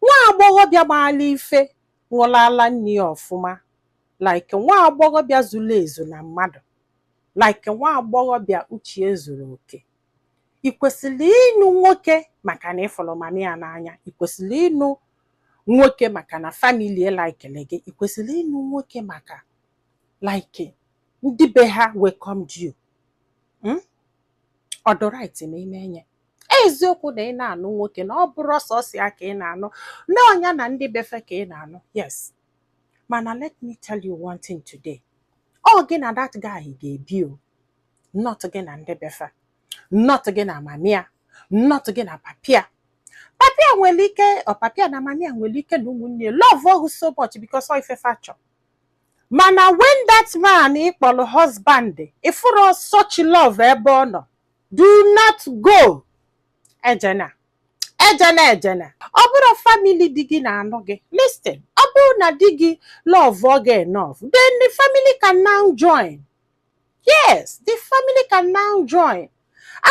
Nwa agbọghọbịa maalụ ife ṅụlụ ala nne ya ọfụma like nwa agbọghọbịa zuru ezu na mmadụ like nwa agbọghọbịa uche ya zuru oke. I kwesịrọ ịnụ nwoke maka na ị fụrụ mama ya n'anya. I kwesịrọ ịnụ nwoke maka na family ya likelụ gị. I kwesịrọ ịnụ nwoke maka like ndị be ha welcomed you. Mm? ọ dị right ma ime enye eziokwu na ị na-anụ nwoke na ọ bụrọ sọsọ ya ka ị na-anụ na ọ nya na ndị be fa ka ị na-anụ yes mana let me tell you one thing today ọ gị na that guy ga-ebi o not gị na ndị be fa not gị na mama ya not gị na papa ya papa ya nwere ike ọ papa ya na mama ya nwere ike na ụmụnne love ọ you so much because of ife fa chọ mana when that man ị kpọlọ husband ị fụrọ such love ebe ọ nọ do not go ejena ejena ejena ọ bụrọ family di gị na-anụ gị listen ọ bụrụ na di gị love ọ gị enough then the family can now join yes the family can now join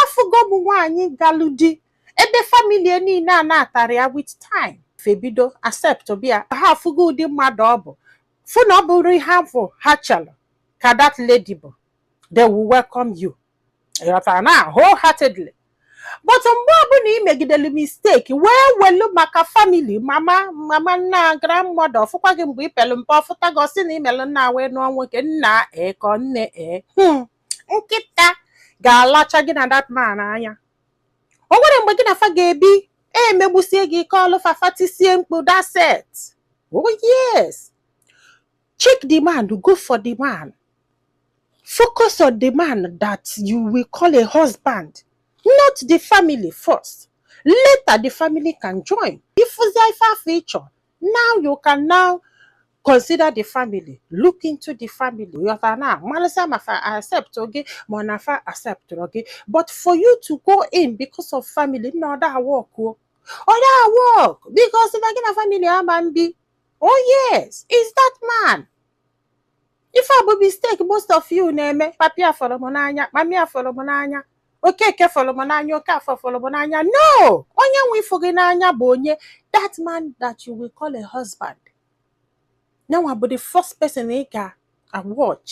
afụgo m nwaanyị galụ di ebe family ya niile anatarọ ya with time fa ebido acceptiba ya ha afụgo ụdị mmadụ ọ bụ fụ na ọ bụrọ ihe afụ ha chelu ka that lady bụ they will welcome you ị ghọtana wholeheartedly but mgbe ọbụna i megidelu mistake wee welu maka family mama mama nna grandmother ọ fụkwa gị mgbe i pelu mpe ọ fụta gị ọ sị na i melu nna wee nụọ nwoke nna e ka nne e hmm, nkịta ga-alacha gị na that man anya o nwere mgbe gị na fa ga-ebi e megbusie gị ike ọlụ fa fa tisie mkpu that's it oh yes check the man go for the man focus on the man that you will call a husband not the family first later the family can join if zaifa feature now you can now consider the family look into the family yọta na malisa mafa accept oge ma nafa accept oge but for you to go in because of family na ọda work o ọda work because na gị na family ama mbi oh yes is that man ife a bụ mistake most of you na-eme papa ya fụlụ m n'anya mama ya fụlụ m n'anya Okeke fụlụ m n'anya Okafọ fụlụ m n'anya no onye nwe ịfụ gị n'anya bụ onye that man that you will call a husband nya nwa bụ the first person ị ga-watch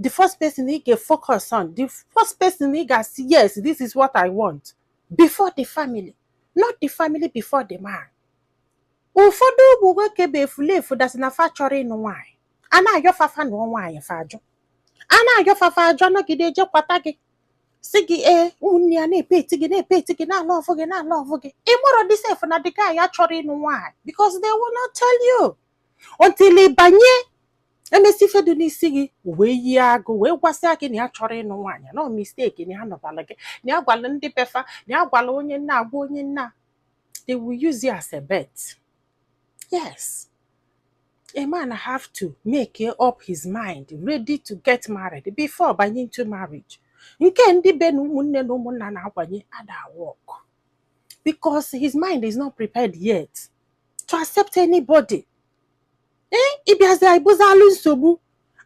the first person ị ga-focus on the first person ị ga-asị yes this is what I want before the family not the family before the man ụfọdụ ụmụ nwoke bụ efulefu that's na fa achọrọ ịnụ nwaanyị a na-ayọ fa fa nụọ nwaanyị fa ajụ a na-ayọ fa fa ajụ a nọgide e je kwata gị sị gị ee ụmụnne ya na-epet gị na-epet gị na-alove gị na-alove gị ị marọdị sef na the guy achọrọ ịnụ nwaanyị because they will not tell you until ị banye e mesịa ife dị n'isi gị o wee yie agụ wee gwasịa gị na ya achọrọ ịnụ nwaanyị na ọ mistake na ya nụbalụ gị na ya gwala ndị be fa na ya gwala onye nna agwa onye nna they will use you as a bet. Yes. A man have to make up his mind, ready to get married before banye into marriage. nke ndị be na ụmụnne na ụmụnna na-akwanye ada work because his mind is not prepared yet to accept anybody ee ị bịazia ị bụzalụ nsogbu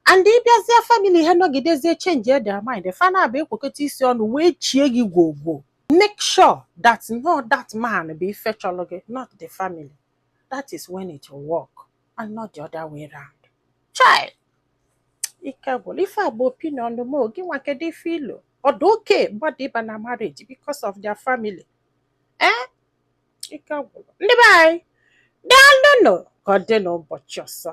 and ị bịazie family ha nọgidezie change their mind fa naabọ ekwekọta isi ọnụ wee chie gị gwogwo make sure that na ọ that man bụ ife chọlọ gị not the family that is when it will work and not the other way round chai ike gwụlụ ife a bụ opinion m o, gị nwa kedu ife i lo ọ dị okay mmadụ ịba na marriage because of their family ee ike gwụrụ ndị be anyị daalụnụ ka ọ dị n'ụbọchị ọzọ